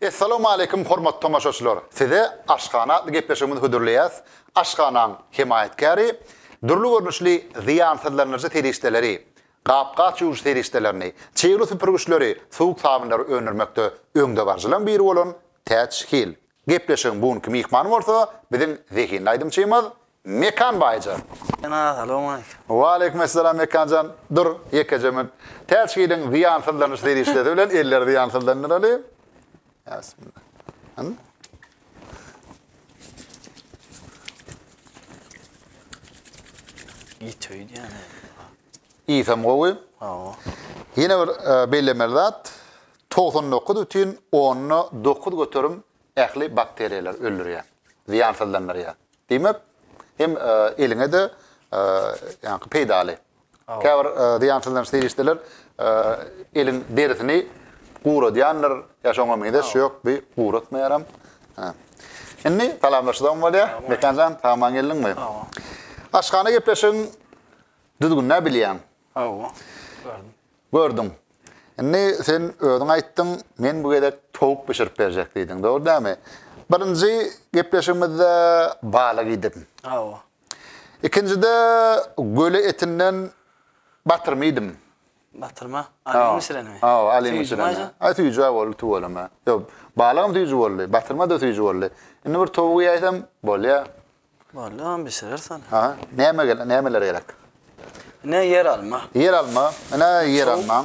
Essalawmaleýkum hormatly tomaşaçylar. Size Aşhana atly gepleşigimizi hödürleýäs. Aşhanaň hemaýatkäri dürli görnüşli zyýansyzlandyryjy serişdeleri, gap-gaç ýuwuş serişdelerini, çygly süpürgiçleri, suwuk sabynlary öndürmekde öňdebaryjylaryň biri bolan Täç Hil. Gepleşigiň bu günki myhmany bolsa biziň zehinli aýdymçymyz Mekan Baýja. Mekan aga, salowmaleýkim. Waleýkumessalam Mekan jan. Dur, ýekeje münt. Täç Hiliň zyýansyzlanyş serişdesi bilen elleri zyýansyzlandyraly. Aslynda. Anladym. Ýeteýdi ýa-da. Ýesem gowy. Hawa. Ýene bir e, bellemeli zat 99,9 göterim ähli bakteriýalar öldürýär. Zyýansyzlandyrýar. Diýmek, hem e, eliňe de e, ýaňky peýdaly. Käbir zyýansyzlanyş serişdeler eliň derisini guradýandyr, ýa şoňa meňzeş, ýok bi guratmaýaram. Indi salamlaşyzam bolýa. Mekan jan, sag-aman geldiňmi? Aşhana gepleşigiň düzgünini-ä bilýäň. Hawa, gördüm. Gördüň. Indi sen özüň aýtdyň, men bu gezek towuk bişirip berjek diýdiň, dogry dälmi? Birinji gepleşigimizde balyk iýdiň. Hawa. Ikinjide göle etinden batyrma iýdim. Batyrma? Alyň bişirenmi? Hawa, alyň bişirenmi? Süýjümi aýsa? Aý, süýjü-ä boldy tüweleme. Ýok, balygam süýjü boldy, batyrma-da süýjü boldy. Indi bir towuk iýäýsem, bolýa. Bolýa, onam bişirers ony. Aha, näme gerek, nämeler gerek? Ine, ýeralma. Ýeralma, ine, ýeralmaň.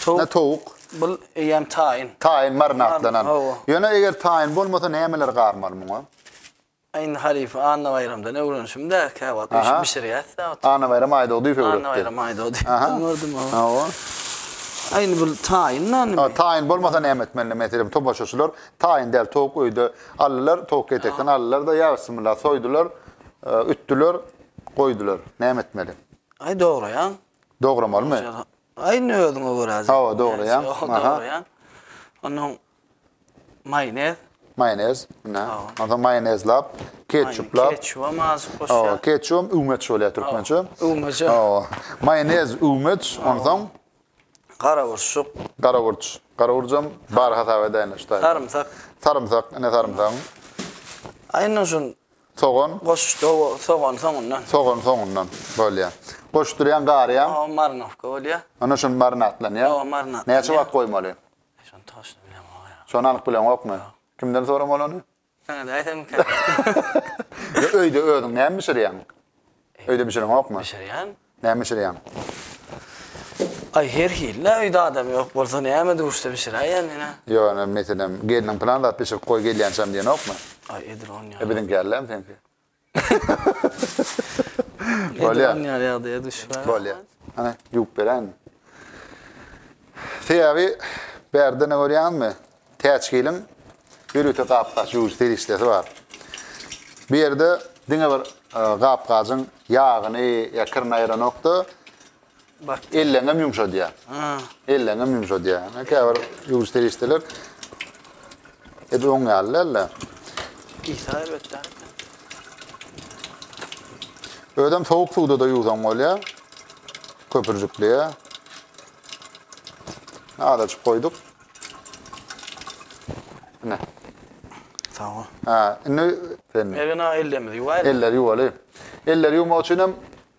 Towuk. Ine, towuk. Bu eýýäm taýyn. Taýyn, marinadlanan. Hawa. Ýöne eger taýyn bolmasa, nämeler garmaly muňa? Indi halypa Annabaýramdan öwrenişim däl käwagt üýşüp bişirýäs dä oturyp. Annabaýram Aýdogdyýew öwretdi. Annabaýram Aýdogdyýew öwretdi gördüm hawa. Hawa. A indi bu taýyn nany mi? Taýyn bolmasa näme etmeli meselem tomaşaçylar taýyn däl towuk öýde aldylar towuk ketekden aldylar-da ýa bismillah soýdular ütdüler goýdular näme etmeli? Aý dograýaň. Dogramalymy? Aý indi özüňe görä. Hawa dograýaň. Dograýaň. Ondan Maýonez. Maýonez. Ine. Onsoň maýonezlap, ketçuplap. Ketçubam azajyk goşýar. Hawa, ketçubam üwmeç bolýar türkmençe. Üwmeç. Hawa. Maýonez, üwmeç, onsoň. Garaburçuk. Garaburç. Garaburjam bar hasap edäýinler şu taýda. Sarymsak. Sarymsak. Ine sarymsagyň. A indi şu. Sogan. Goşuşdy, hawa, sogany soňundan. Sogany soňundan bolýar. Goşdurýaň, garýaň. Hawa, marinowka bolýar. Ine şuny marinadlanýar. Hawa, marinadlanýar. Näçe wagt goýmaly? Şony toşny bilemok ýa. Şony anyk bileňokmy? Kimden soramaly ony? Saňa-da aýdamyka. Ýa öýde özüň näme bişirýäň? Öýde bişireňokmy? Bişirýän. Näme bişirýäň? Aý, her hil-le, öýde adam ýok bolsa näme duşsa bişiräýýän ine. Ýok, ine, meselem, gelniň pylan zat bişirip goý gelýänçäm diýenokmy? Aý, edil ony ýa. E, biziňki ýaly-lämi seňki? Bolýa. Edip alýan ýagdaýa düşüp. Bolýa. Hany, ýuwup beräýinmi? Sebäbi bärde ne görýäňizmi? Täçgiliň ýörite gap-gaç ýuwujy serişdesi bar. Bu ýerde diňe bir gap-gajyň ýagyny ýa kirini aýranok-da, Bak elleňem yumşadýar. Ha. Elleňem yumşadýar. Yani käbir ýuwuş serişdeler edi oň ýaly däldi. Isa elbetde. Özem sowuk suwda da ýuwsaň bolýar. Köpürjikliýe. Azajyk goýduk. Ne? Sag ol. Ha, indi sen Ergin ağa ellerimizi ýuwaýlyk. eller ýuwaly. Eller ýuwmak üçin hem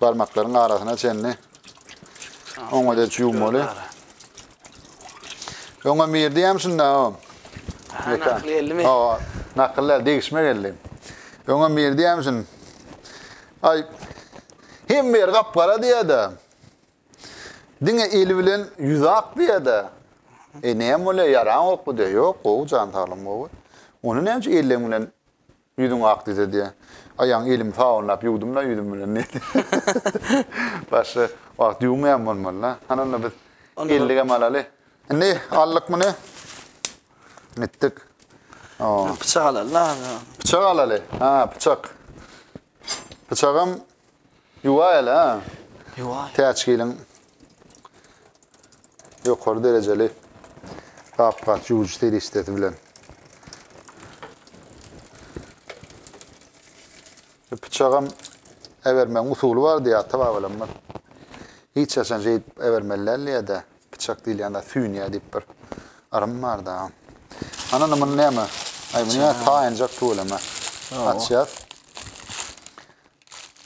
barmaklaryň arasyna çenli oňa deç ýuwmaly. Öňe mir diýem şunda. Nakly geldi mi? O, nakyllar degişme geldi. Öňe mir diýem şun. Ay, hem bir gapgara diýede. Diňe eli bilen ýüz ak diýede. E näme bolýar? Ýaran ok bu diýe. Ýok, gowy jan saglam gowy. Ony näme üçin elleň bilen Ýüzüň ak diýse diýýä. Aýagyň elimi sabynlap ýuwdum-da ýüzüm bilen diýdi. Başga wagt ýuwmaýan bolmaly-da. Hany onda biz elligem alaly. Indi aldyk muny. Etdik. Pyçak alaly-da. Pyçak alaly. Ha, pyçak. Pyçagam Ýuwaýaly-ha. Ýuwaý. Täçgiliň ýokary derejeli gap-gaç ýuwujy serişdesi bilen. Bu pyçagam äbermegiň usuly bar diýýär ata-babalarymyz. Hiç haçan şeýdip äbermeli däl diýýär-de, pyçak diýilýän zat süýnýär diýip bir yrym bar-da. Ana, indi muny näme? Aý, muny ýa taýynjak tüweleme. Açýas.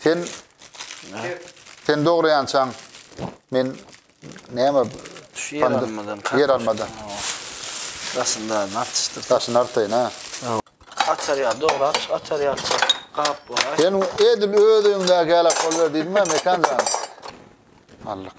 Sen sen dograýançaň men näme ýer almadan ýer almadan. Aslynda atdyşdyr. Daşyny artaýyn ha. Açar ýa dograp, açar ýa gap bolar. Sen edil öz öňüňde gälak bolýar diýdiňmi mekan jan? Allyk.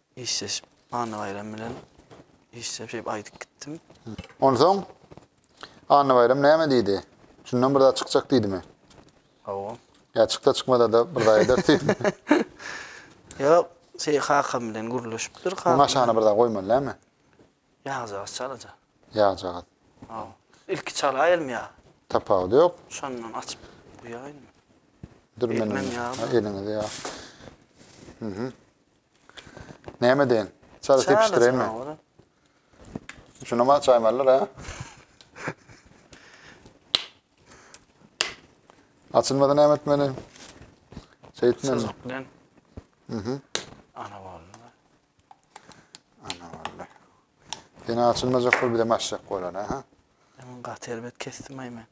Işleşip, Annabaýram bilen işleşip, şeýdip aýdyp gitdim. Onsoň Annabaýram näme diýdi? Şundan bir zat çykjak diýdimi? Hawa. Ýa çyksa çykmasa-da bir zat eder diýdimi? Ýok, şeý kakam bilen gürleşipdir. Kakam. Muňa şana bir zat goýmaly näme? Ýagjagaz çalaja. Ýagjagaz. Hawa. Ilki çalaýylmy ýa? Tapawudy ýok. Şondan açyp guýaýylmy? Dürmenem. Elmem ýagmy? Eliňizi ýa. Näme deýin? Çaý sepişdireýinmi? Çaý alajaň ha oňa. Şunama çaý mallar ha. Açylmady näme etmeli? Şeýtmeli. Syzyk bilen. Mhm. Ana boldy. Ana boldy. Ýene açylmajak bol bir de maşjak bolar ha. Hemen gaty elbet kesdim ay men.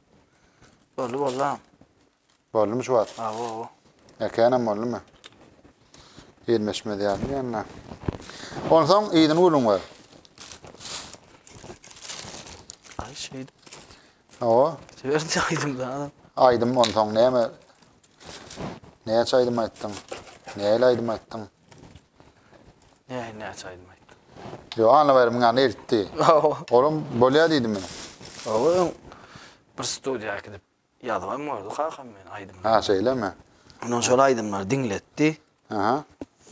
Boldy boldy. Boldumy şu wagt? Awo. Äkänem boldumy? Gelmeşmez ýaly ýa-da. Onsoň yzyny gülüň bar. Aý şeýdip. Awo. Söýerdi aýdym da. Aýdym onsoň näme? Näçe aýdym aýtdyň? Nähili aýdym aýtdyň? Nähili näçe aýdym aýtdyň? Ýo, Anna baýramyň ýanyna eltdi. Awo. Olam bolýar diýdimi? Awo. Bir studiýa gidip Ýazybam gördi kakam meni aýdymda. Ha şeýlemi? Ondan şol aýdymlary diňletdi. Aha.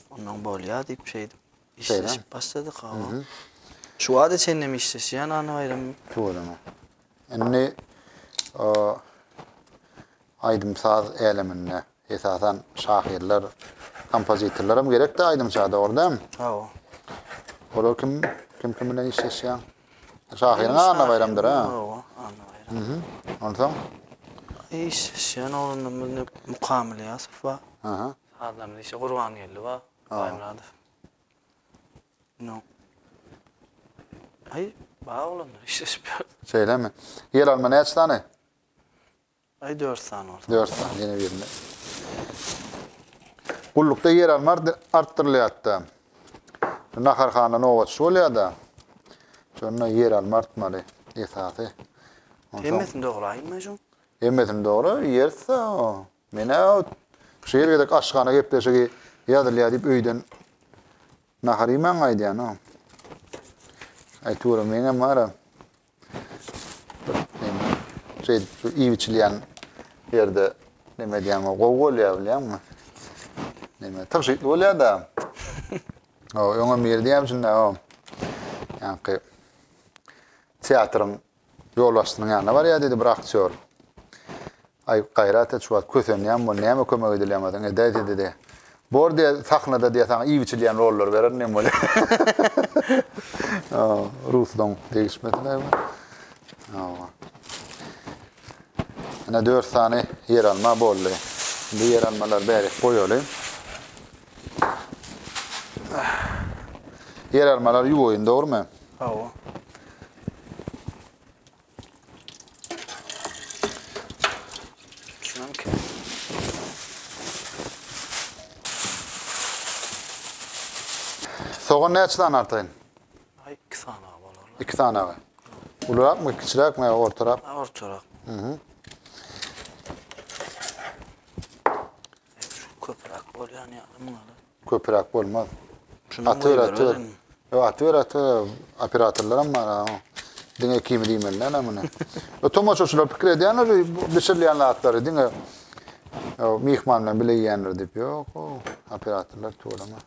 Ondan bolýar diýip şeýdip işleşip başladyk hawa. Şu wagta çenli hem işleşýän Annabaýram. Tuweleme. Indi aýdym-saz äleminde Esasan şahyrlar, kompozitorlaram gerekde aýdymça dogry dämi? Hawa. Olar kim? Kim kim bilen işleşýär? Şahyryň Anna Baýramdyr ha. Hawa, Anna Baýram. Mhm. Onsoň? Işleşýän oglanlarymyz ne Mukamyl Ýasow bar. Aha. Sazlarymyz işe Gurbangeldi bar, Baýmyradow. No. Aý, bar oglanlar işleşip ýör. Şeýlemi? Ýeralma näçe sany? Aý dört sany bolsa. Dört sany ýene birine. Gullukda ýer alma artdyrylýarda. Naharhana nobatçy bolýarda. Şonda ýer alma artmaly esasy. Hemmesini dograýma şu. Hemmesini dogra ýerse. Menä şu ýer gerek aşhana gepleşigi ýazylýar diýip öýden nahar iýmän gaýdýan. Aýtyweren meňem bara. Şeýdip şu iýip içilýän ýerde neme edýäň o gowy bolýar bilýäňmi? Neme tygşytly bolýar-da. O öňe mir diýýän şunda o. Ýaňky teatryň ýolbaşçysynyň ýanyna barýar diýdi bir aktýor. Aý, Gaýrat et, şu wagt kösenýän bol, näme kömek edilýäňoziň, edäýsizde-de. Bor diýä, sahnada diýä saňa iýip-içilýän rollary bererin hem bolýa. Hawa, Ruslaň degişmesin aý bu. Hawa. Ine dört sany ýeralma boldy. Indi ýeralmalary bärik goýaly. Ýeralmalary ýuwaýyn, dogrumy? Hawa. Sogan näçe sany artaýyn? Ay, iki sany bolar. İki sany aga. Ulurak mı, kiçirak mı, ortarak? Ortarak. Hı hı. Şu köpürak bolyan ya, mı Köpüräk bolmaz. Atyber, atyber. Yo, atyber, atyber. Operatorlaram bar ha. Diňe ikimi diýmeli näme muny. Yo, tomaşaçylar pikir edýänler bişirilýän zatlary diňe myhman bilen bile iýenler diýip. Ýok, operatorlar tuweleme.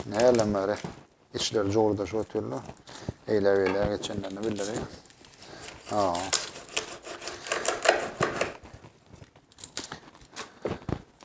Näme bari. Işleri jogurdaşyp otyrlar. Eýle-beýle geçenlerini bildirin. Ha.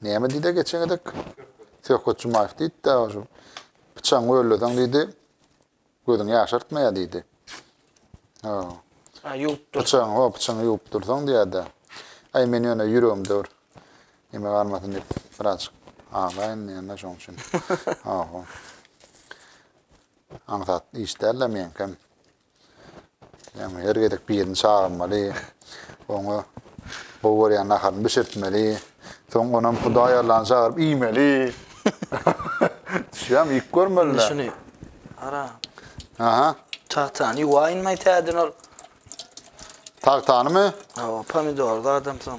Näme diýdi-ä geçen gezek? Söhbet Jumaýew diýdi-dä, şu pyçagyňy gölleseň diýdi, gözüňi ýaşartmaýar diýdi. Ho. Ha, ýuwup dur. Pyçagyňy, ho, pyçagyňy ýuwup dursaň diýýär-dä. Aý, men ýöne ýüregimde bir neme galmasyn diýip, birazjyk aglaýyn diýýän-dä, şonuň üçin. Ho-ho. Aňsat iş däl-le meňkem. Ýagny her gezek birini çagyrmaly, oňa gowy görýän naharyny bişirtmeli, soň onam Hudaý Allany çagyryp iýmeli. Düşýämi, iýip görmeli. Şuny ara. Aha. Tagtany ýuwaýynmy täzeden ol? Tagtanymy? Hawa, pomidor zadam soň.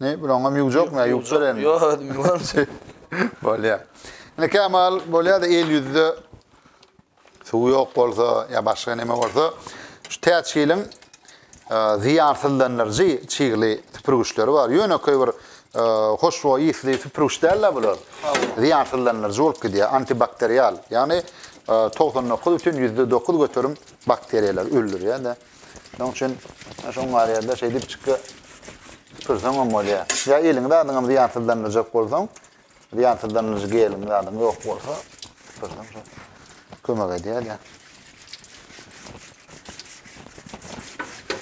Ne bir oňam ýugjak me ýugjur indi. Ýok özüm ýuwamçy. Bolýa. Ine Kemal bolýa da el ýüzde suw ýok bolsa ýa başga neme bolsa şu täçgiliň zyýarsyldandyryjy çygly süpürgiçleri bar. Ýönekeý bir hoşboý ýysly süpürgiç däl-de bular. Zyýarsyldandyryjy bolup gidýär, antibakterial. Ýagny togsan dokuz bütin ýüzde dokuz göterim bakteriýalary öldürýär-de. Şonuň üçin şoň bar ýerde şeý diýip çykga süpürseň hem bolýar. Ýa eliňi zadyňam zyýansyzlandyrjak bolsaň, zyýansyzlandyryjy geliň zadyň ýok bolsa, süpürseň şo kömek edýär-de.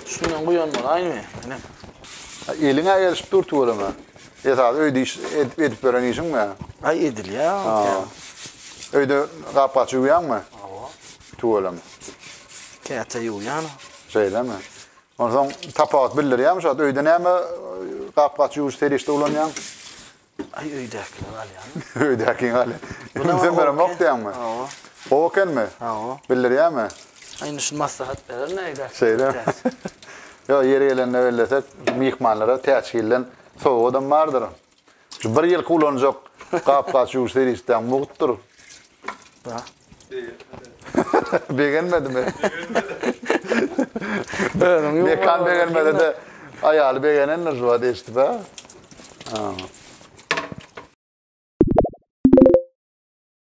Şundan guýan bolaýmy? Ine. Eliňe gelişip dur tüweleme. Esasy öýde iş edip edip beren işiňmi? Aý edilýär. Öýde gap-gaç ýuwýaňmy? Tüweleme. Käte ýuwýan. Şeýlemi? Onsoň tapagat bildirýärmi şu wagt? Öýde näme gap-gaç ýuwuş serişde ulanýaň? Aý öýdäkini galýan. Öýdäkini galýan. Ümsüm beremok diýäňmi? Hawa. Gowy ekenmi? Hawa. Bildirýärmi? Aý indi şuny maslahat berer nädäki. Şeýlemi? Ýok ýeri gelende bellesek myhmanlara täçgilden sowgadam bardyr. Şu bir ýylky ulanjak gap-gaç ýuwuş serişdäň mugtdyr. Begenmedimi? Özüň ýuw. Mekan begenmedi-de, aýaly begenendir şu wagt eşidip, hä?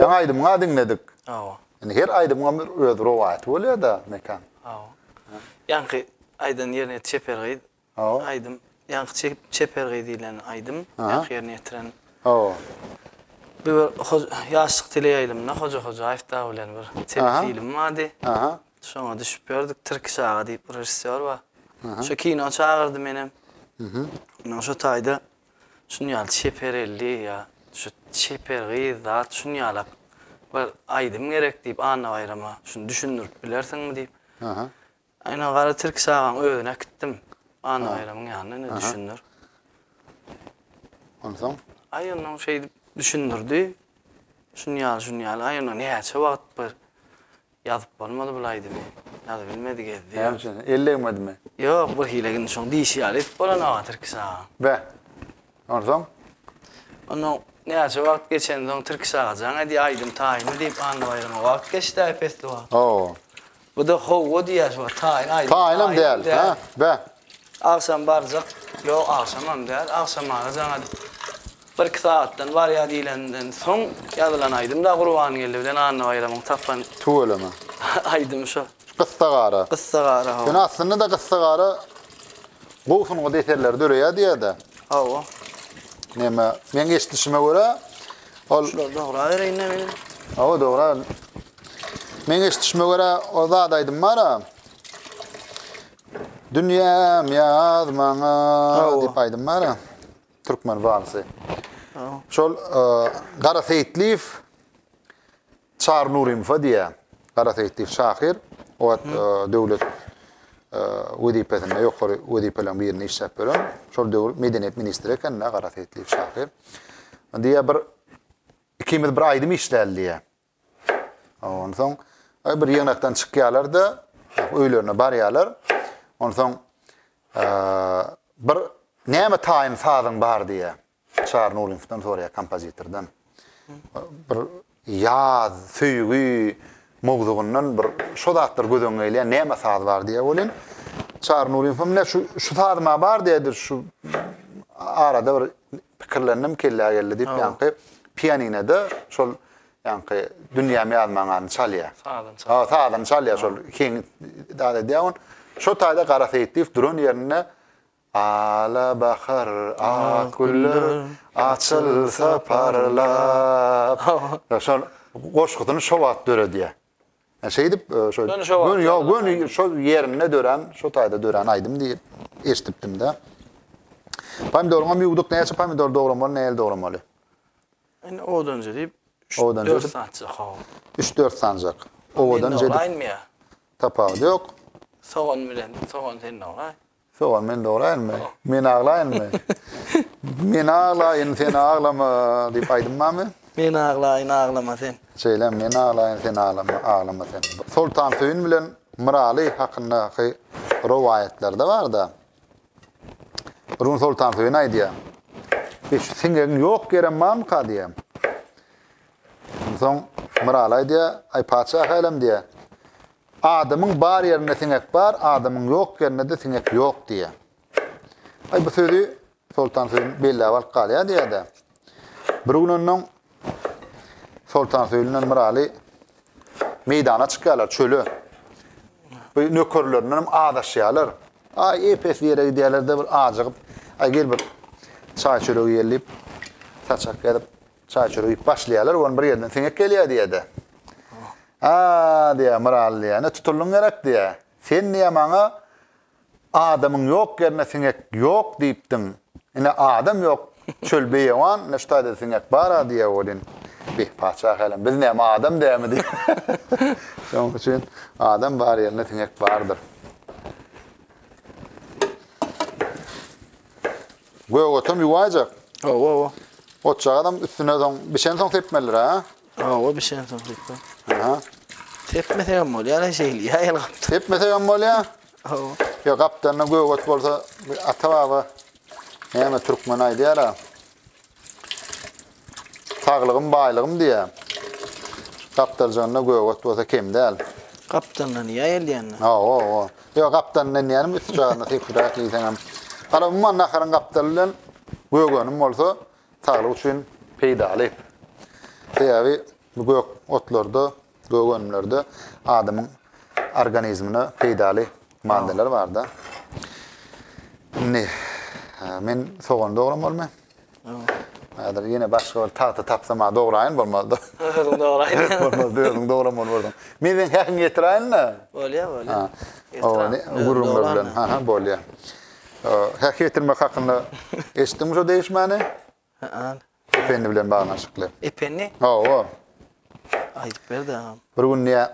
Ýaňy aýdymyňy diňledik. Hawa. Indi her aýdymyň bir öz rowaýaty bolýar-da, Mekan. Hawa. Ýaňky aýdan ýerine çeper gyz Hawa. Aýdym. Ýaňky çekip Çeper gyz diýlen aýdym ýaňky ýerine ýetiren. Hawa. Bir ýaşlyk teleýaýlymynda Hoja Hojaýew dagy bilen bir telefilm bardy. Aha. Şoňa düşüp ýördük. Tirkiş aga diýip bir režissýor bar. Şo kino çagyrdy menem. Mhm. Indi şo taýda şuny ýaly Çeper elli ýa şu Çeper gyz zat şuny ýalak bir aýdym gerek diýip Annabaýrama şuny düşündirip bilersiňmi diýip. Aha. Aýna gara tilki çagany özüne äkitdim. Annabaýramyň ýanyna indi düşündir. Onsoň? Aý onnoň şeýdip düşündirdi. Şun ýaly şun ýaly. Aý onda näçe wagt bir ýazyp bolmady bul aýdymy. Ýazybilmedi gezdi. Näme üçin? Elli egmedimi? Ýok birhili indi şoň diýşi ýaly edip bolan aga tilki çaga. Be. Onsoň? Ondan näçe wagt geçensoň Tirkiş agajan edýä aýdym taýyny diýip Annabaýrama wagt geçdä ep-esli wagt. Ho-o. Bu-da ho-o diýýä şuňa taýyn aýdym. Taýynam däl, hä? Bä. Agşam barjak. Ýok, agşamam däl. Agşam agajan edip birki sagatdan barýa diýlenden soň ýazylan aýdym-da Gurbangeldi bilen Annabaýramyň tapan. Tüweleme. Aýdymy şo. Gyssagara. Gyssagara hawa. Ýöne aslynda-da Gyssagara gowy sungat eserleri döreýär diýýär-de. Hawa. Näme, meň eşidişime görä, ol Şular dogra bereýin-de meniň. Hawa, dogra. Meň eşidişime görä, o zat aýdym bar-a. Dünýäm ýaz maňa diýip aýdym bar-a. Türkmen walsy. Hawa. Şol Gara Seýitliýew Çary Nurinfa diýýär. Gara Seýit diýip şahyr. O wagt döwlet wezipesinde, ýokary wezipeleriň birinde işläp ýören. Şol döwür medeniýet ministri eken-de Gara Seýit diýip şahyr. Diýýär, bir ikimiz bir aýdym işläli diýýär. Onsoň bir ýygnakdan çykýarlar-da, öýlerine barýarlar. Onsoň bir Näme taýyn sazyň bar diýýär. Çary Nuryňowdan soraýar kompozitordan. Bir ýaz, söýgi mowzugyndan bir şo zatlar göz öňüne gelýär, näme saz bar diýýär welin. Çary Nuryňowam ne şu şu saz ma bar diýdi, şu arada bir pikirlendim, kellä geldi diýip ýaňky pianinede şol ýaňky dünýämi ýazmaňany çalýar. Sazyny çalýar. Ha, sazyny çalýar şol. Keň dad edýär on. Şo taýda Gara Seýitliýew duran ýerinde Ala bahar, ak güller açylsa parlap. Ýa şol goşgusyny şo wagt döredýär. Ýa şeýdip şo göni ýok göni şo ýerinde dörän, şo taýda dörän aýdym diýip eşdipdim-de. Pomidoryňam ýuwduk näçe pomidor dogramaly, nähili dogramaly? Indi owadanjy diýip Owadanjy diýip. Üç-dört sanjak hawa. Üç-dört sanjak. Owadanjy diýip. Tapawudy ýok. Sogan bilen, sogan sen dograý. Sowan men dograýynmy? Men aglaýynmy? Men aglaýyn, sen aglama diýip aýdym barmy? Men aglaýyn, aglama sen. Şeýle, men aglaýyn, sen aglama, aglama sen. Soltansöýün bilen Myraly hakyndaky rowaýatlarda bar-da. Bir gün Soltansöýün aýdýar. E şu siňegiň ýok ýerem barmyka diýýär. Onsoň Myraly aýdýar, aý patyşa hälem diýýär. Adamyň bar ýerinde siňek bar, adamyň ýok ýerinde-de siňek ýok diýýär. Aý, bu sözi Soltan Söýün belläp alyp galýar diýýär-de. Bir gün onnoň Soltan Söýün bilen Myraly meýdana çykýarlar, çöle. Bu nökerlerinden hem azaşýarlar. Aý, ep-esli ýere gidýärler-de, bir ajygyp, Aý, gel, bir çaý-çörek iýeli diýip, saçak ýazyp, Çaý çörek iýip başlaýarlar, ony bir ýerden siňek gelýär diýýär-de. A-a-a, diýýär, Myral diýýär, ine tutuldyň gerek diýýär. Sen diýýär maňa adamyň ýok ýerinde siňek ýok diýipdiň. Ine adam ýok, çöl beýewan, ine şu taýda siňek bar-a diýýär welin, beh, patyşa hälem, biz näme adam dälmi diýýär. Şonuň üçin adam bar ýerinde siňek bardyr. Gögatam ýuwaýjak. Hawa, hawa. Otjagazam üstüne soň bişensoň sepmelidir, ha? Hawa, bişensoň sepmeli. Aha. Sepmesek hem bolýar, ýa şeýle, ýa ýel gap. Sepmesek hem bolýar. Hawa. Ýa gapdanyna gögat bolsa, ata-baba näme türkmen aýdýar-a? Saglygym baýlygym diýýä. Gapdaljanynda göget bolsa kem däl. Gapdalyndan iýä elýände. Hawa-hawa. Ýok, gapdalyndan diýýänim, üst jagyna sypyrak iýseňem. Hala umuman naharyň gapdaly bilen gögenim bolsa saglyk üçin peýdaly. Sebäbi bu gök otlarda Gök önümlerde adamyň organizmine peýdaly maddalar barda. Indi men sogany dogram bolmy? Häzir ýene başga bir tagta tapsam ha dograýyn bolmazdy. Özüň dograýyn. Bolmazdy, özüň dogram bolmazdy. Men sen häkiň getiräýin-de. Bolýar, bolýar. Owani gürrüňler bilen, ha-ha, bolýar. Häki getirmek hakynda eşitdiňmi şu degişmäni? Ependi bilen baglanyşykly. Ependi? Hawa. Aýdyp ber-de agam. Bir gün diýýär,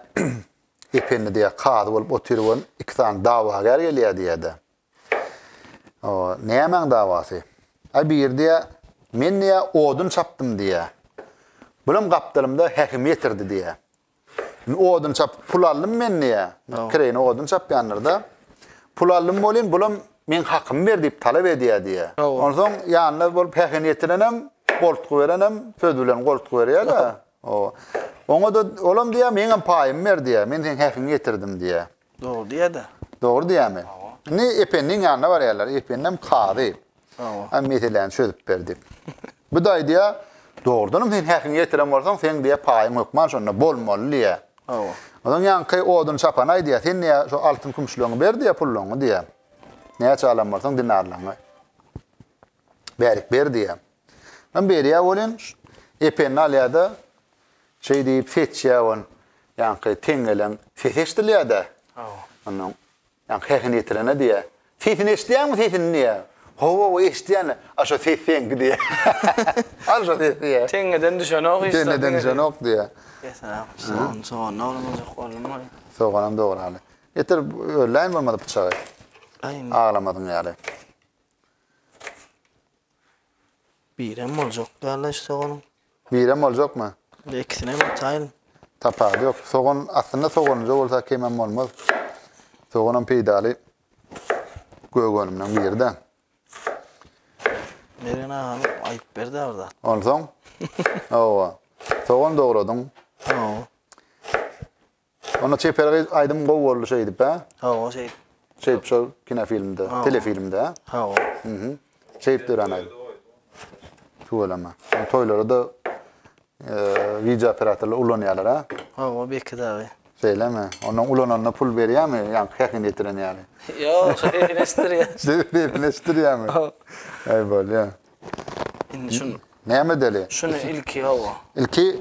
Ependi diýýär, kazy bolup oturybam, iki sany dawagär gelýär diýýär-de. Nämäň dawasy? Aý, biri diýýär, Men diýýär, odun çapdym diýýär. Bulam gapdalymda häkim ýetirdi diýýär. Odun çap, pul aldym men diýýä. Kireýine odun çapýanlar-da. Pul aldym welin, bulam meň hakymy ber diýip talap edýär diýýä. Onsoň ýanyna bolup hähin ýetirenem, goltgy berenem söz bilen goltgy berýär-de. Oba. Oňa-da olam diýýär, meňem paýymy ber diýýär. Men seň häkiňi ýetirdim diýýär. Dogry diýýä-dä. Dogry diýýämi? Indi Ependiň ýanyna barýarlar. Ependem kazy. Hawa. Meseläni çözüp ber diýip. Bu-da aýdýar, Dogrudanam sen häkimiň ýetiren bolsaň, seň diýýär, paýyň hökman şonda bolmaly diýýär. Hawa. Onsoň ýaňky odun çapana aýdýar, Sen diýýär, şo altyn-kümüşleňi ber diýýär, pullaňy diýýär. Näçe alan bolsaň dinarlaňy. Bärik ber diýýär. Onsoň berýär welin, Ependi alýar-da, Şeý diýip seçýär on. Ýaňky teň gelen ses eşdilýär-dä. Hawa. Onuň ýaňky sesini ýetirene diýýär. Sesini eşidýäňmi sesini diýýär. Hawa-hawa eşidýän-le. A şo ses seňki diýýär. Al şo sesi diýýär. Teňňeden düşenok hiç zat. Teňňeden düşenok diýýär. Getirem. Sogan, sogan dogramajak boldum ol. Soganam dograly. Getir örläýin bolmasa pyçagy. Aýn. Aglamadyň ýaly. Birem boljak däl-le hiç soganyň. Birem boljakmy? Indi ikisinem ataýyn. Tapawudy ýok. Sogan, aslynda soganyja bolsa kemem bolmaz. Soganam peýdaly gök önümden biri-de. Mergen agany aýyp ber-dä bir zat. Onsoň? Hawa. Sogan dogradyň. Hawa. Onda çeper gyz aýdym gowy boldy şeýdip hä? Hawa şeýdip. Şeýdip şu kinofilmde, telefilmde hä? Hawa. Mhm. Şeýdip dörän aýdym. Tüweleme. Toýlarda wideo operatorlar ulanýarlar hä? Hawa belki dagy. Şeýlemi? Onda ulananda pul berýärmi? Ýa häkini ýetiren ýaly. Ýok, şu häkini ýetirýär. Şu häkini ýetirýärmi? Hawa. Aý bolýar. Indi şunu. Näme däli? Şunu ilki hawa. Ilki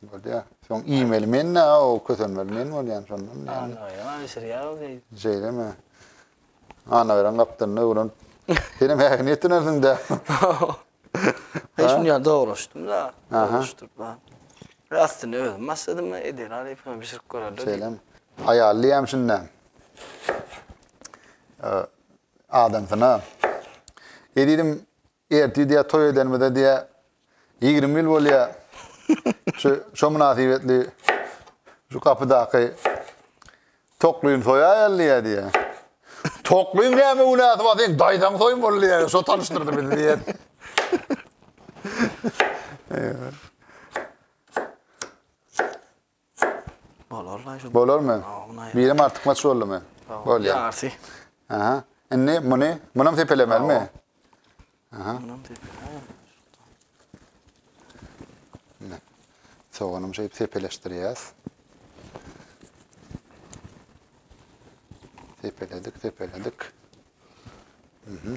Bolýa. Soň iýmeli men-de, o kösenmeli men bolýan şondan. Anaberen alyşyrýa öwreýin. Şeýlemi? Anaberen gapdalynda öwrenip. Senem häzir niýet dönersiň-dä. Hiç şuny ýa dogrulaşdym-da. Dogrulaşdyryp bar. Aslynda özüm başladym, Edil Arypowa bişirip göreli. Şeýlemi? Aýal diýýäm şunda. Adamsyna. Edilim Ertir diýä toý edenimize diýä ýigrimi ýyl bolýa. Şu şo mynasybetli şu gapydaky Toklyny soýaýaly diýä diýä. Toklyň näme günäsi bar seň daýzaň soýmaly diýä. Şo tanyşdyrdy bizi diýä. Bolarmy? Birem artykmaç boldumy? Bolýar. Ýarsy. Aha. Indi muny, munam sepelemelimi? Aha. Munam sepele. Ne? Soganam şeýip sepeleşdirýäs. Sepeledik, sepeledik. Mhm.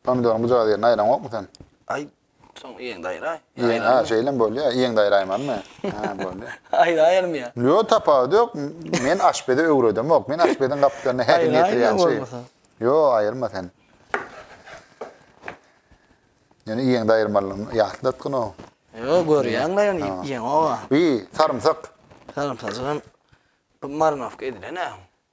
Pomidoryň bujagy ýerine aýraňokmy sen? Aý, soň ýeňde aýraý. Ýeň, ha, şeýlem bolýar. Ýeňde aýraýmanmy? Ha, bolýar. Aýraýaryn ýa. Ýok, tapawudy ýok. Men aşpeze öwredemok. Men aşpeziň gapdalynda her kim ýetirýänçä. Aýraýma bolmasa. Ýok, aýyrma sen. Ýöne ýeňde aýyrmalydygyny ýatlatgyn o. Ýok, görýäň-le ýöne ýeňoga. Bi, sarymsak. Sarymsajygam marinowka edilen-ä.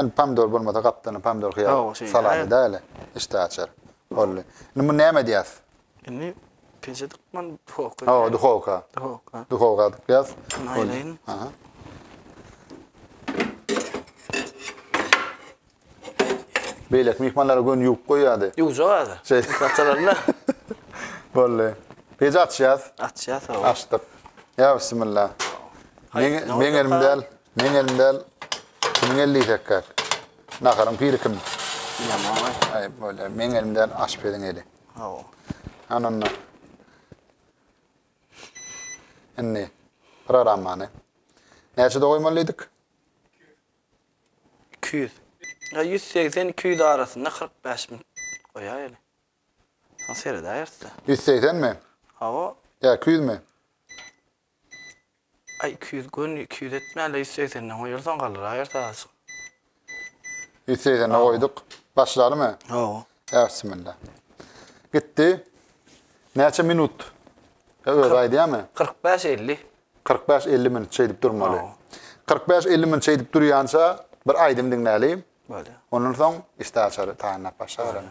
Indi pomidor bolmasa gapdalynda pomidor hyýar Hawa, şeýle. saladada ele işdä açar. Boldy. Indi muny näme edýäs? Indi peje dykman duhowka. Hawa, duhowka. Duhowka. Duhowka dykýas. Şuny Boldy. aýlaýyn. Aha. Beýleki myhmanlara göni ýuwup goýýardy. Ýuwjak häzir. Şeý. Saçalarynda Boldy. Peji açýas. açýas hawa. Açdyk. Ýa bismillah. Haýsy, Meň, ne meň olacak elim ha? däl. Meň elim däl, kimiň eli diýsekkäk? Naharyň piri kim? Bilýän agay. Aýyp bolýar. Meň elim däl, aşpeziň eli. Hawa. Ana onda. Indi programmany näçede goýmaly diýdik? 200. Ýa 180, 200 arasynda 45 min goýaýyly. Soň seredäýeris-de. 180 mi? Hawa. Ýa 200 mi? Aý iki ýüz göni iki ýüz etmäli ýüz segsenden goýarsaň galyraýýar azajyk. Ýüz segsenden goýduk. Başlalymy? Hawa. Ýa bismilla. Gitdi. Näçe minut? Ýa özi aýdýamy? Kyrk bäş elli. Kyrk bäş elli minut şeýdip durmaly. Hawa. Kyrk bäş elli minut şeýdip durýança bir aýdym diňläli. Bolýar. Ondan soň işdäaçary taýynlap başlaberelim.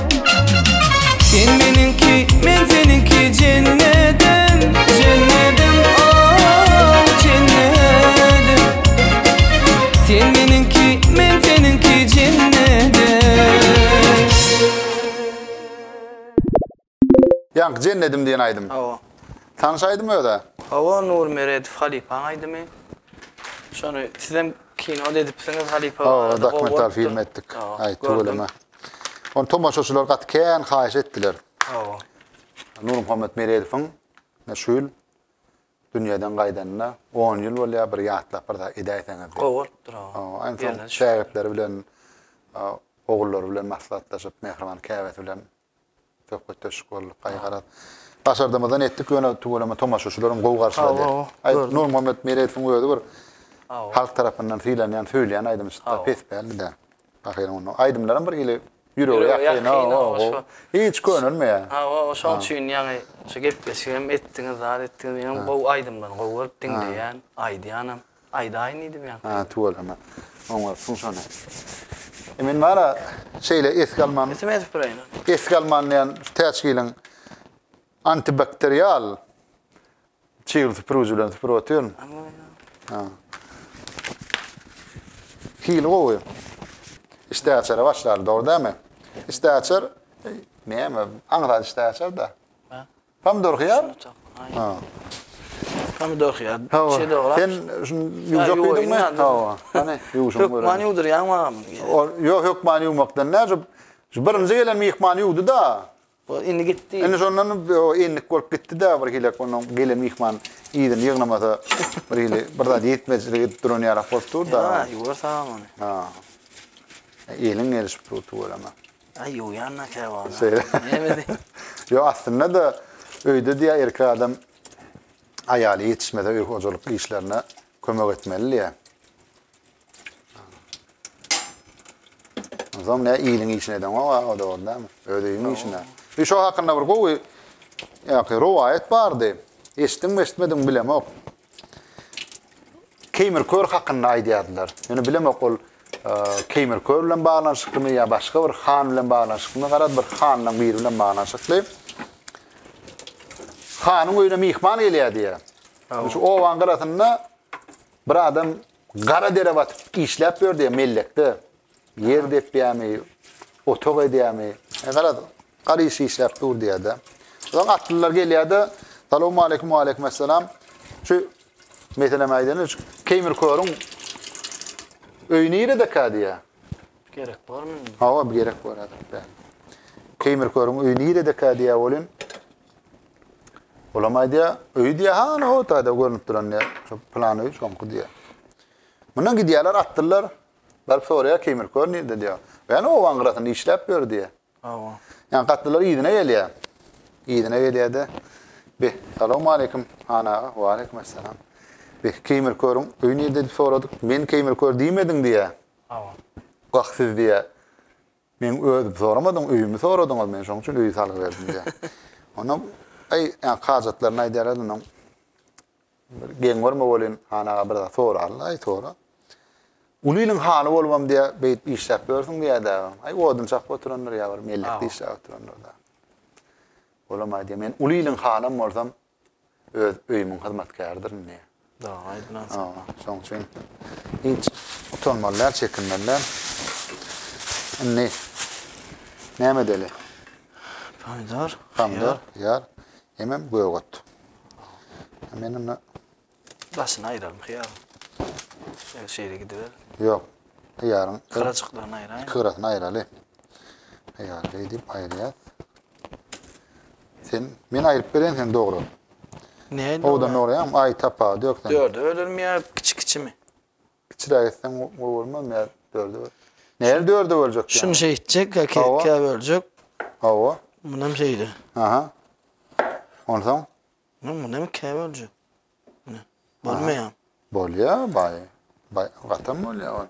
Sen meniňki, men seniňki jennedim, jennedim, oh, jennedim. Sen meniňki, men seniňki jennedim. Ýaňky Jennedim diýen aýdym. Hawa. Tanyş aýdym öz-ä. Hawa, Nur Meredow halypaň aýdymy. Şony sizem kino-da edipsiňiz, halypa Hawa, barada gowy dokumental bolupdyr. film etdik. Hawa, Aý, gördüm. tüweleme. Ony tomaşaçylar gaty kän haýyş etdiler. Hawa. Nurmuhammet Meredowyň şu ýyl dünýeden gaýdanyna 10 ýyl bolýar, bir ýatlap bir zat edäýseňiz. Gowy bolupdyr o. Aýna şägirtleri bilen, ogullary bilen maslahatlaşyp, Mähriban käbesi bilen Söhbetdeşlik boldy. Gaý garaz. Başardymyzdan etdik ýöne tüweleme tomaşaçylarym gowy garşylady. Sag bol. Aý Nurmuhammet Meredowyň özi bir halk tarapyndan sylanýan, söýülýän aýdymçyda pes däldi-de. Ahyry onda aýdymlaram bir ili ýürege ýakyn. Hawa. Hiç könelmeýär. Hawa, şoň üçin ýaňy şu gepleşigem etdiňiz, zat etdiňiz. Menem gowy aýdymlaryny gowy görüp diňleýän, aýdýanam. Aýdaýyn diýdim ýa. Ha, tüweleme. Oňartsyň şony. E men bana şeýle esgi alman. Esim edip bireýin ony. Esgi alman diýen täçgiliň antibakterial çygly süpürgiji bilen süpürip otyryn. Ha. Hili gowy. Işdäaçara başlar, dogry dälmi? Işdäaçar näme? Aňsat işdäaçar-da. Pomidor hyýar. Pomidor hyýar. Şey dograp. Sen şu ýuwjak diýdiňmi? Hawa. Hany ýuwşuň görä. Hökman ýuwdurýaň maňam. Ýok, hökman ýuwmakdan näce. Şu birinji gelen myhman ýuwdy-da. O indi gitdi. Indi şondan endik bolup gitdi-de bir hili onuň gelen myhman yzyny ýygnamasa bir hili bir zat ýetmezçilik edip duran ýarak bolup dur-da. Ýa, ýuwar saňam ony. Ha. Eliň gelişip dur tüweleme. Ay ýuwýan da käbä ony. Şeýle. Näme diýip? Ýok, aslynda-da öýde diýýär erkek adam aýaly ýetişmese öý hojalyk işlerine kömek etmeli diýýär. Onsoň ne iliň işini edeňok a o dogry dälmi? Öz öýüň işini. Şu şo hakynda bir gowy ýa-ki rowaýat bardy. Eşitdiňmi, eşitmediňmi bilemok. Keýmir kör hakynda aýdýardylar. Ýöne bilemok ol Keýmir kör bilen baglanyşyklymy ýa başga bir han bilen baglanyşyklymy? Garaz bir handan biri bilen baglanyşykly. Hanyň öýüne myhman gelýär diýýär. Şu owaň gyrasynda bir adam gara dere batyp işläp ýör diýýär mellekde. Ýer depýämi, otag edýämi? E, garaz, garry iş işläp dur diýýär-de. Soň atlylar gelýär-de, Salawmaleýkum, waleýkumessalam. Şu, meselem aýdaýyn, şu Keýmir körüň öýi niredekä diýýär. Gerek barmy? Hawa, gerek bar häzir. Keýmir körüň öýi niredekä diýýär welin. Olam aýdýar, öýi diýýär, ha, ana, o taýda görnüp duran diýýär. Şu plan öýi şoňky diýýär. Mundan gidýärler, atlylar. Baryp soraýar, Keýmir kör nirde diýýär. Gel obaň gyrasynda işläp ýör diýýär. Hawa. Ýa gatlylar yzyna gelýär. Yzyna gelýär-de, Beh, salawmaleýkim, han aga. Waleýkim essalam. Beh, Keýmir körüň öýi nirde diýip soradyk. Men Keýmir kör diýmediň diýýär. Hawa. Wah siz diýýär. Meň özüm soramadyň, öýümi soradyňyz. Men şonuň üçin öýi salgyberdim diýýär. Onam, aý, ýa hajatlaryny aýdýarlar onuň. Bir geň görme welin, han aga bir zat soraryn, aý sora. Uly iliň hany bolubam diýä, beýdip işläp ýörsüň diýädä. Aý odun çakyp oturandyr ýa bir mellekde işläp oturandyr da. Olam aýdýa, men uly iliň hanam bolsam, öz öýümiň hyzmatkäridirin diýä. Dog aýdylanyň. Şoň üçin hiç utanmaly däl, çekinmeli däl. Indi näme edeli? Pomidor, Pomidor, ýar. Hemem gök ot. Men onda Daşyny aýralyň hyýaryň. Şeýle şeýle gidiber. Ýok. Hyýaryň Gyrajyklaryny aýraýyn. iki gyrasyny aýraly. Hyýary beýdip aýyrýar. Sen men aýryp bereýin sen dogry. Nädip? Owdan dogry ýa aý tapagy dök sen. Dörde bölünmeyip kiçi kiçimi? Kiçiräk etseň uly bolmaz mi ýa dörde böl. Nähili dörde böljek ýa. Şuny şeý etjek ýa ki ikä böljek. Hawa. Munam şeýle. Aha. Onsoň? Muny munam ikä böljek. Mine. Bolmaýa. Bolýa baý. Baý gatam bolýa ol.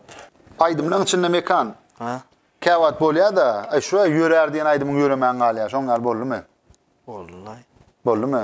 Aýdymlaň içinde Mekan. Ha. Käwagt bolýa-da, aý şuway ýörär diýen aýdymyň ýöremän galýa. Şoň ýaly boldumy? Boldy-laý. Boldumy?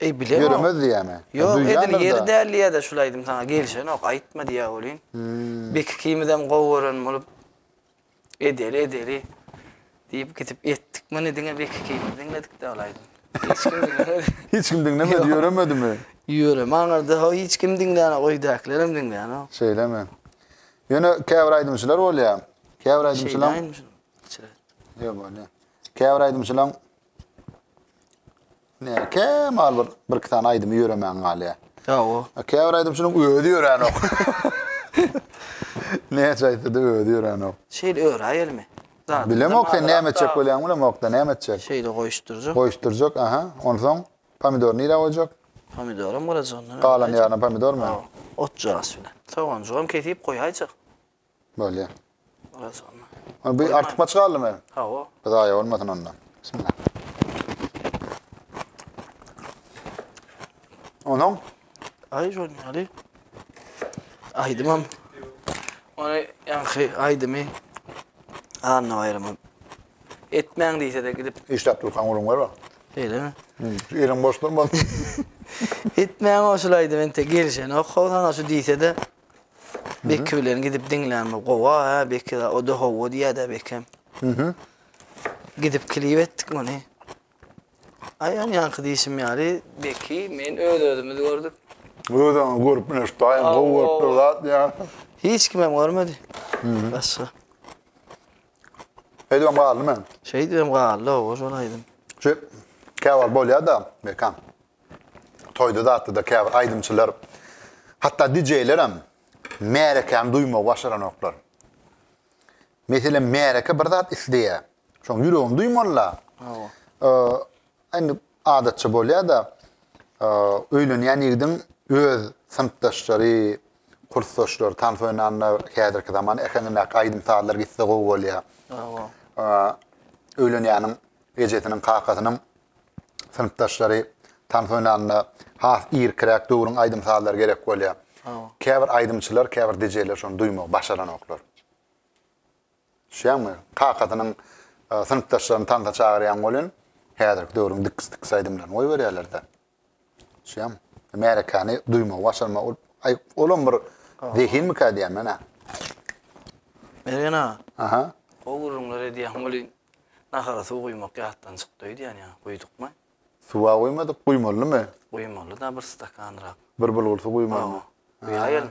Eý bilemok. Ýöremez diýýämi? Ýa Ýok edil duýýandyr-da. ýeri däl diýýä-de şul aýdym saňa gelişenok, aýtma diýýä welin. Bek ikimizem gowy gören bolup edeli edeli diýip gidip etdik. Muny diňe Bek ikimiz diňledik-de ol aýdymy. Hiç kim diňlemedi. Hiç kim diňlemedi, Ýok. ýöremedimi? Ýöreme aňyrda ho hiç kim diňlänok, öýdäkilerem diňlänok. Şeýlemi? Ýöne käbir aýdymçylar bolýa. Käbir aýdymçylaň Şeýdäýinmi şuny? Içiret. Ýok bolýa. Käbir aýdymçylaň Näme kemal bir birki sany aýdymy ýöremän galýa. Hawa. Käbir aýdymçynyň özi ýöränok. Näçe aýtsa-da özi ýöränok. Şeýle öräýelmi? Zadyny Bilemok sen näme etjek bolýaň bilemokda näme etjek. Şeýle goýuşdyrjak. Goýuşdyrjak aha. Onsoň pomidory nirä goýjak? Pomidoram galajygyndan. Galan ýaryna pomidormy? Hawa. Otjagaz bilen. Soganjygam kesip goýaýjak. Bolýa. Biraz onda. Ony bir artyp açyk aldy men. Hawa. Bir zaýa bolmasyn onda. Bismillah. Onuň? Ay şol ýaly. Aýdymam. Ony ýaňky aýdymy Anna baýrama etmäň diýse-de gidip Işläp durkan gurun görme. Eýlemi? Eliň boş durmasyn. Etmäň o şulaydy men te gelişenok. Howsana şu diýse-de Beki bilen gidip diňlänme gowa, Beki da o da howa diýýär-de Bekem. Mhm. Gidip klip etdik muny. Aýan ýaňky diýşim ýaly Beki men öz özümiz gördük. Özüňi görüp bileş daýyň gowy Aw, görüpdir aw. zat diýýär. Hiç kim hem görmedi. Başga. Eýdibem galdy men. Şeýdibem galdy owa şol aýdym. Şu käwagt bolýar-da Bekem. Toýda-datda-da käbir aýdymçylar, hatda dijeýlerem märekäni duýmagy başaranoklar. Meselem, märeke bir zat isleýär. Şoň ýüregini duýmaly-la. Hawa. Indi adatça bolýar-da, öýlenýän ýigidiň öz synpdaşlary, kursdaşlary, tans oýnanda häzirki zaman äheňindäki aýdym-sazlar gitse gowy bolýar. Hawa. Öýlenýäniň ejesiniň, kakasynyň synpdaşlary tans oýnanda has irkiräk döwrüň aýdym-sazlary gerek bolýar. Käbir aýdymçylar, käbir DJ-ler şony duýmagy başaranoklar. Düşýäňmi? Kakasynyň synpdaşlaryny tansa çagyrýan welin, häzirki döwrüň dikis-dikis aýdymlaryny goýberýärler-de. Düşýäňmi? Märekäni duýmagy başarmak, ol aý, olam bir zehinmikä diýýän men-ä. Mergen aga. Aha. Gowy gürrüňler edýäň welin, Nahara suw guýmak ýatdan çykdy öýdýän ýa, guýdykmy? Suw-a guýmadyk, guýmalymy? Guýmaly-da bir stakanrak. Bir bulgur suw guýmalymy? Hawa, guýaýalyň.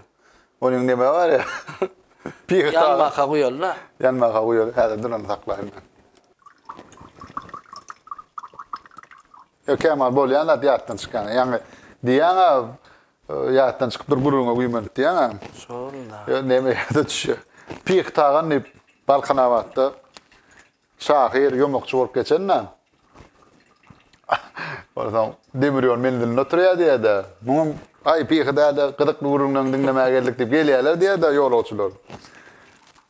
Onuň näme bar ýa? Pige taýyn. Ýanmaka guýaly-da. Ýanmaka guýaly, häzir durany saklaýyn men. Ýok, kämal bolýan zat ýatdan çykýan. Ýaňy diýýäň-ä, Ýatdan çykypdyr gürrüňe güýmenip diýýäňä. Şol-da. Ýöne näme ýada düşýär. Pyh Tagan diýip Balkanabatda şahyr, ýomakçy bolup geçen-de. Onsoň demir ýol menzilinde oturýar diýýär-de. Muňam Aý Pyhy däde gyzykly gürrüňleňi diňlemäge geldik diýip gelýärler diýýär-de ýolagçylar.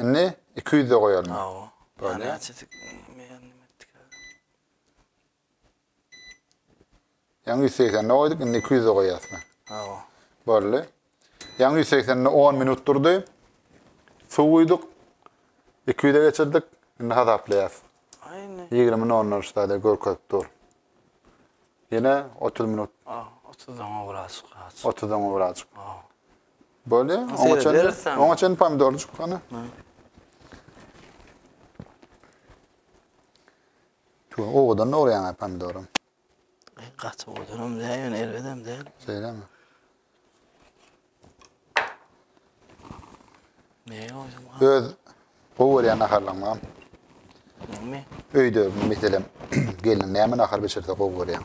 Indi iki ýüzde goýalyň. Hawa. Bolýa. Ýaňy ýüz segsende goýduk, indi iki ýüzde goýýas men. Hawa. Boldy. Ýaňy ýüz segsende on minut durdy. Suw guýduk. Iki ýüze geçirdik. Indi hasaplaýas. Aýne. Ýigrimi nol-nol ştada görkezip dur. Ýene otuz minut. Otuzdan gowrak. Otuzdan gowrak. Hawa. Bolýa. Oňa çenli, oňa çenli pomidorjyk hana. Tu owadan orýan ha pomidorum. Gaty owadanam däl, ýöne erbedem däl. Şeýlemi? Ne oýdum? Öz gowy görýän naharlaryňam. Näme? Öýde meselem gelin näme nahar bişirse gowy görýän.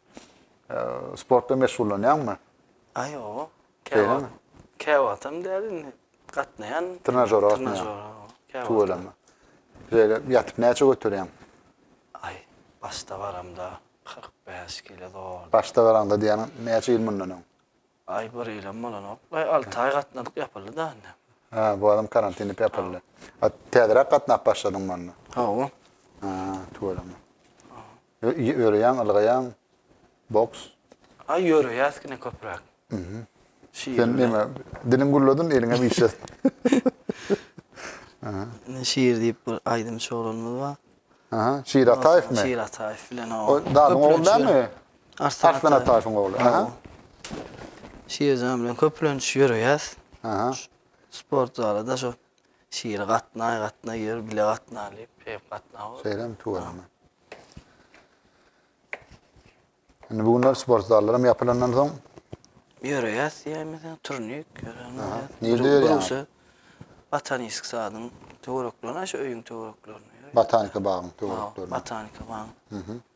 Sportda meşgullanýaňmy? A ýok. Beýlemi? Käwagtam däl indi. Gatnaýan. Trenažera gatnaýan. Trenažera. Tüweleme. Şeýle ýatyp näçe göterýäň? Aý, başda baramda 45 kilo zor. Başda baraňda diýýäniň näçe ýyl mundan öň? Aý bir ýylam bolanok. Aý alty aý gatnadyk ýapyldyda indi. Hä bu adam karantin dip ýapyldy. A täzeräk gatnap başladyňmy onda? Hawa. Hä tüweleme. Ýöreýäň ylgaýaň. Boks. Aý ýöreýäs kine köpräk. Mhm. Sen näme diliň gürledin eliňem işlet. Aha. Şir diýip bir aýdymçy oglanymyz bar. Aha, Şir Ataýewmi? Şir Ataýew bilen o. O dadyň ogly dälmi? Arslan Ataýewiň ogly. Aha. Şirjan bilen köplenç ýöreýäs. Aha. Sport zala da şu Şir gatnaý, gatnaý ýör, bile gatnaly diýip, şeýdip gatnaw. Şeýlemi tuweleme. Indi bu günler sport zallaram ýapylandan soň ýöreýäs diýäýmese, turnik ýöräýmez. Nirde ýörýäňiz? Botanisk sadyň töwereklerinde, şu öýüň töwereklerinde. Botanika bagyň töwereklerinde. Botanika bagyň. Mhm.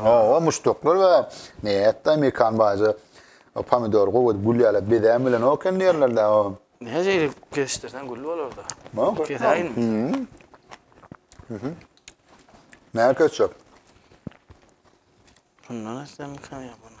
Oba muşdaklar we näetdi amerikan baýja pomidor gowy edip gül ýaly bezän bilen oken diýerlerde o. Näze edip kesişdirsen gül bolarda. Kesäýin. Näme kesjek? Şundan etsem kän ýa bunu.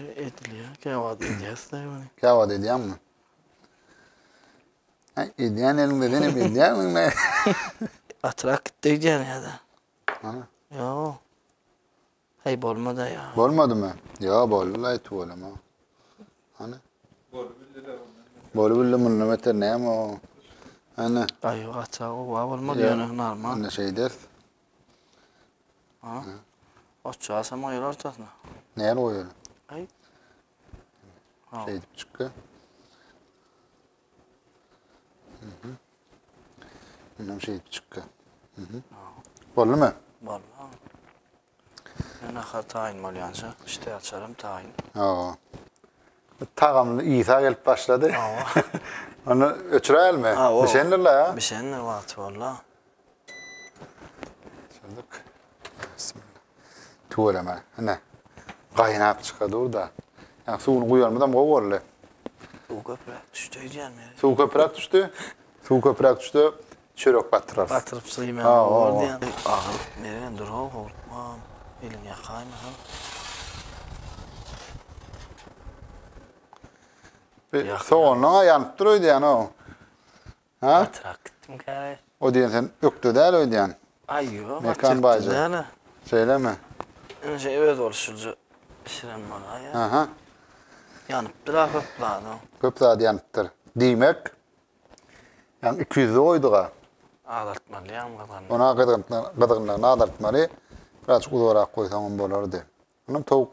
Edilýär, käwagt edýäs-de ony. Käwagt edýäňmi? Hä, edýän eliňde sen hem edýärmiň-le? Atrak gitdi öýdýän ýa-da. Ana. Ýo. Heý, bolmady ýa. Bolmadymy? Ýo, boldy-la, aýt bolama. Ana. Bolup bildi-le ondan. Bolup bildi, mundan beter näme o? Ana. Aýo, atrak oba bolmady ýöne, normal. Onda şeýdäs. Ha? Oçja asam goýar ortasyna. Näni goýaly? Aý. Ha. Şeýdip çykka. Mhm. Indi hem şeýdip çykka. Mhm. Boldumy? Boldy. Men ahar taýyn bolýança, işte açarym taýyn. Hawa. Tagamly ýysa gelip başlady. Hawa. Onu öçüräýelmi? Hawa. Bişendirler. Bişendir wagty boldy. Çözdük. Tüweleme. Ine. Gaýnap çyka dur da. Ýa suwuny guýanymyzam gowy boldy. Suw köpräk düşdi öýdýän men. Suw köpräk düşdi. Suw köpräk düşdi. Çörek batyrarys. Batyryp syýman boldy ýa. Agyr. Mergen dur-ow howlukman. Eliň ýakaýmasyn. Soganlaň-a ýanyp dur öýdýän-ow. Hä? Gatyrak gitdim käre. O diýen sen ökde däl öýdýän. Aý ýok, Mekan baýja. Şeýlemi? Indi şeý öz bolşulja bişiren bolaýýar. Aha. Ýanypdyr-a köp zady. Köp zady ýanypdyr. Diýmek, ýaňy iki ýüzli goýdug-a. Azaltmaly ýaňy gyzgynyny. Ony-a gyzgynlygyny azaltmaly. Birazajyk uzarak goýsaňam bolardy. Onam towuk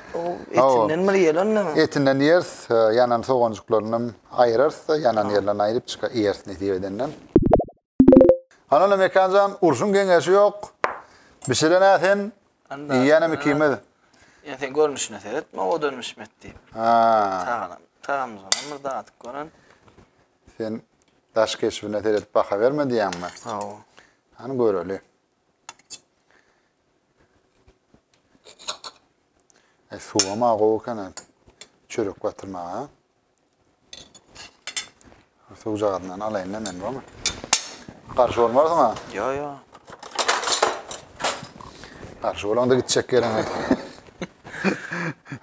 Etinden bir ýelendiňmi? Etinden ýeris, ýanan soganjyklarynam aýyrarys-da, ýanan ýerlerini aýryp çyka iýeris nesip edenden. Hanana Mekan jan, urşuň geňeşi ýok. Bişiren-ä sen, iýýänem ikimiz. Ýöne sen görnüşine seretme, owadan bişmedi diýip. Taganam, tagamyzdanam bir dadyp gören. Sen daş keşbine seredip baha berme diýýäňmi? Hawa. Hany göreli. E, suwam a gowy ekene çörek batyrmaga. Suwjagazyndan alaýyn-da men bu. Garşy bolmarsyň a? Ýo, ýo. Garşy bolaňda gitjek ýeriň.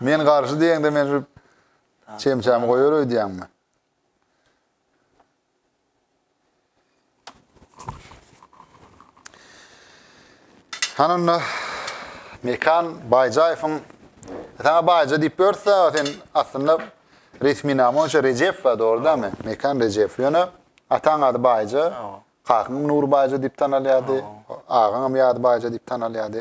Men garşy diýeňde men şu çemçämi goýar öýdýäňmi? Hany onda Mekan Baýjaýewiň Sana Baýja diýip börse, sen aslynda resmi name boýunça Rejep we dogrudanmy? Mekan Rejep. Ýöne ataň ady Baýja, kakyň Nur Baýja diýip tanalýardy, agaň hem ýady Baýja diýip tanalýardy.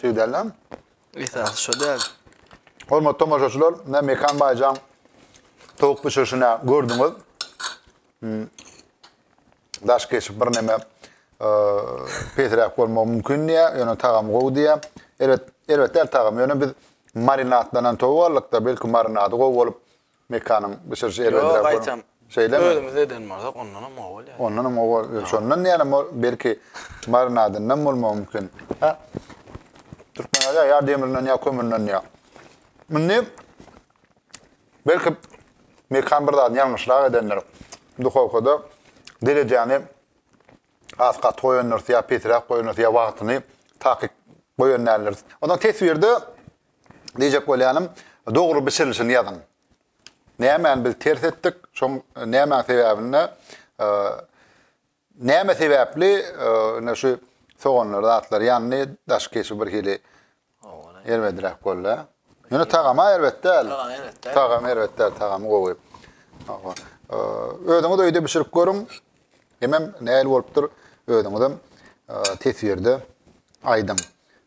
Şey däl lan. Esas şu däl. Hormat tomaşaçylar, ne Mekan Baycan tavuk pişirişine gördüňiz. Hmm. Daş geçip bir neme e, pesräk bolma mümkin diye, yani tagam gowy diye. Elbet, elbet el tagam. Yani biz marinatlanan tavuk aldık da belki marinadı gowy olup Mekanyň bişiriji elbetde bu. Ýok, aýtam. Özümiz eden bolsak, ondanam gowy bolýar. Ondanam gowy bolýar. Şondan ýalam bor, belki marinadyndan bolmagy mümkin. Hä? Türkmen aýdýar, ýa demirinden, ýa kömürden diýýär. Indi belki Mekan bir zadyny ýalňyşrak edendir. Duhowkada derejäni has gaty goýandyrys, ýa pesiräk goýandyrys, ýa wagtyny takyk goýan däldiris. Onsoň teswirde Diýjek bolýanym, dogry bişirilişini ýazyň. Nämäni biz ters etdik, şoň nämäň sebäbini näme sebäpli ine şu soganlar zatlar ýandy, daşky keşbi birhili erbedräk boldy. Ýöne tagama erbet däl. Tagama erbet däl, tagamy gowy. Özüňiz öýde bişirip görüň. Hemem nähili bolupdyr, özüňizem teswirde aýdyň.